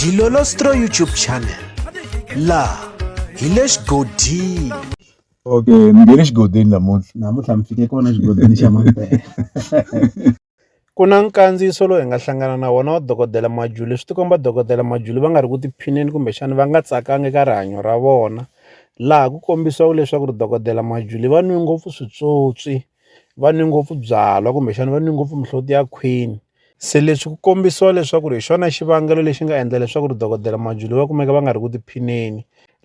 Dilolostro YouTube channel laha hi le xigodini okay ni nge le xigodini namuntlha namuntlha mi fike kona xigodini xa mampela ku na nkandziyiso lowu hi nga hlangana na wona wa dokodela majuli leswi tikomba dokodela majuli va nga ri ku tiphineni kumbexana va nga tsakanga eka rihanyo ra vona laha ku kombisiwaka leswaku ri dokodela majuli va nwi ngopfu switswotswi va nwi ngopfu byalwa kumbexana va nwi ngopfu mihloti ya khwini Se leswi ku kombisiwa leswaku ri hi xona xivangelo lexi nga endla leswaku ri dokodela Majuli va kumeka va nga ri ku tiphineni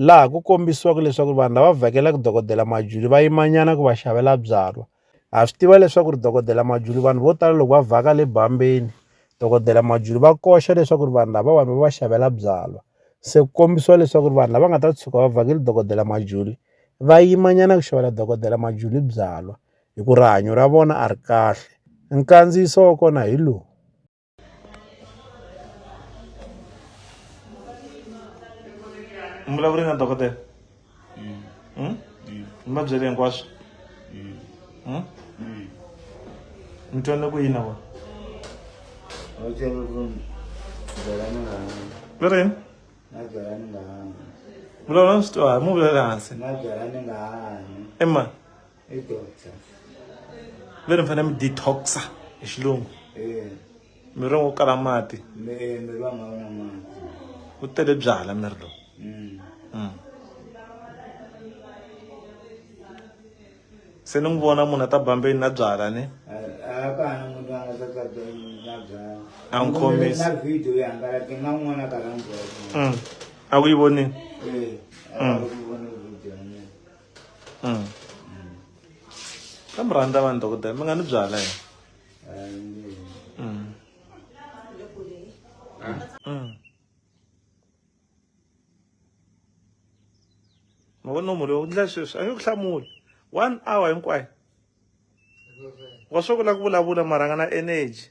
laha ku kombisiwaka leswaku vanhu lava vhakelaka dokodela Majuli va yimanyana ku va xavela byalwa ha swi tiva leswaku ri dokodela Majuli vanhu vo tala loko va vhaka le bambeni dokodela Majuli va koxa leswaku ri vanhu lavawani va va xavela byalwa se ku kombisiwa leswaku ri vanhu lava nga ta tshuka va vhakela dokodela Majuli va yimanyana ku xavela dokodela Majuli byalwa. hi ku rihanyo ra vona a ri kahle. Nkandziyiso wa kona hi lowu. mi vulavule na dokodela hmm? mi va byele hinkwaswo hmm? mi twanile ku yini na vona va rini vulavula swi twa hi mu vulela hansi emani i doctor veri mi fanele mi detoxa hi xilungu eh. miri wo kala mati eh, miri wa nga wona mati ku tele byala miri lowu mm. mm. se ni n'wi vona munhu a ta bambeni na byala ni a n'wi khomisa mm. a ku yi vonini eh, mm. ka mi rhandza vanhu dokodela mi nga ni byala yena mavona murhi u ndla sweswi a nge ku hlamuli one hour hinkwayo wa swi kula ku vulavula mara nga na energy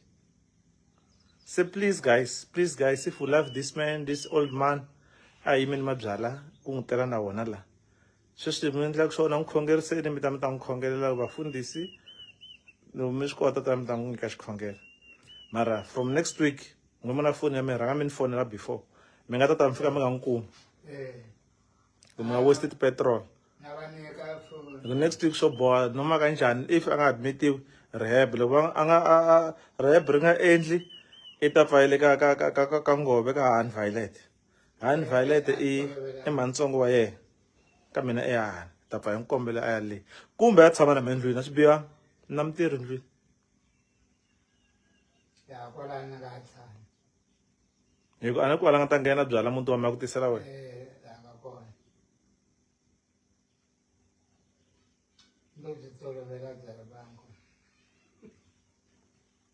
se please guys please guys if you love this man this old man a yimini mabyala ku n'wi tela na wona la sweswi mi endlaka swona n'wi khongeriseni mi ta mi ta n'wi khongelela vafundhisi loko mi swi kota ta mi ta n'wi nyika xikhongelo mara from next week n'wi mona foni ya mi rhanga mi ni fonela before mi nga ta ta mi fika mi nga n'wi kumi eh. mi nga waste ti-petrol the next week swo boha noma kanjhani if a nga admitiwi rehab loko a nga rehab ri nga endli i ta pfayele ka ka ka ka ka ngove ka han violet han violet i i mantsongo wa yena ka mina i han ta pfa hi n'wi kombela a ya le kumbe a tshama na mina ndlwini a swi biha na mutirhi ndlwini ya kwalani nga tshama hi ku a ni ku va la nga ta nghena byala muti wa mi ya ku tisela wena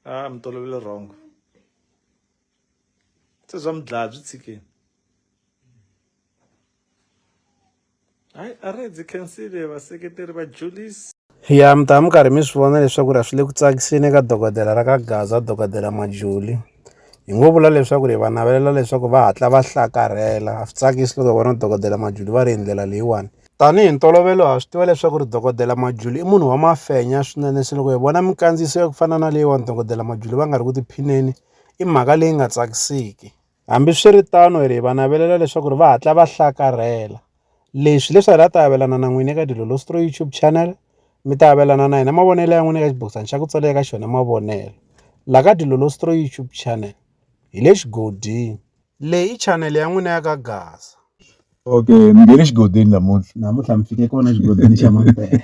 a ah, mi tolovele wrong se swa mi dlaya byi tshikeni hayi a ri dzi khensile vaseketeri va julisi ya mi ta mi karhi mi swi vona leswaku ri a swi le ku tsakiseni eka dokodela ra ka gaza dokodela majuli hi ngo vula leswaku ri va navelela leswaku va hatla va hlakarhela a swi tsakisi loko vona dokodela majuli va ri hi ndlela leyiwani tanihi ntolovelo ha swi tiva leswaku ri dokodela majuli i munhu wa mafenya swinene se loko hi vona minkandziyiso ya ku fana na leyiwani dokodela majuli va nga ri ku tiphineni i mhaka leyi nga tsakisiki Hambiswiritano, hi va navelela leswaku va hatla va hlakarhela. Leswi leswi hi la ta avelana na n'wina eka Dilo Lostro YouTube channel, mi ta avelana na hina mavonelo ya n'wina eka xibokisana xa ku tsalela eka xona mavonelo. La ka Dilo Lostro YouTube channel, hi le xigodini. Leyi i channel ya n'wina ya ka Gaza. Okay, mi nge le xigodini namuntlha. Namuntlha mi fike kona xigodini xa Mampela.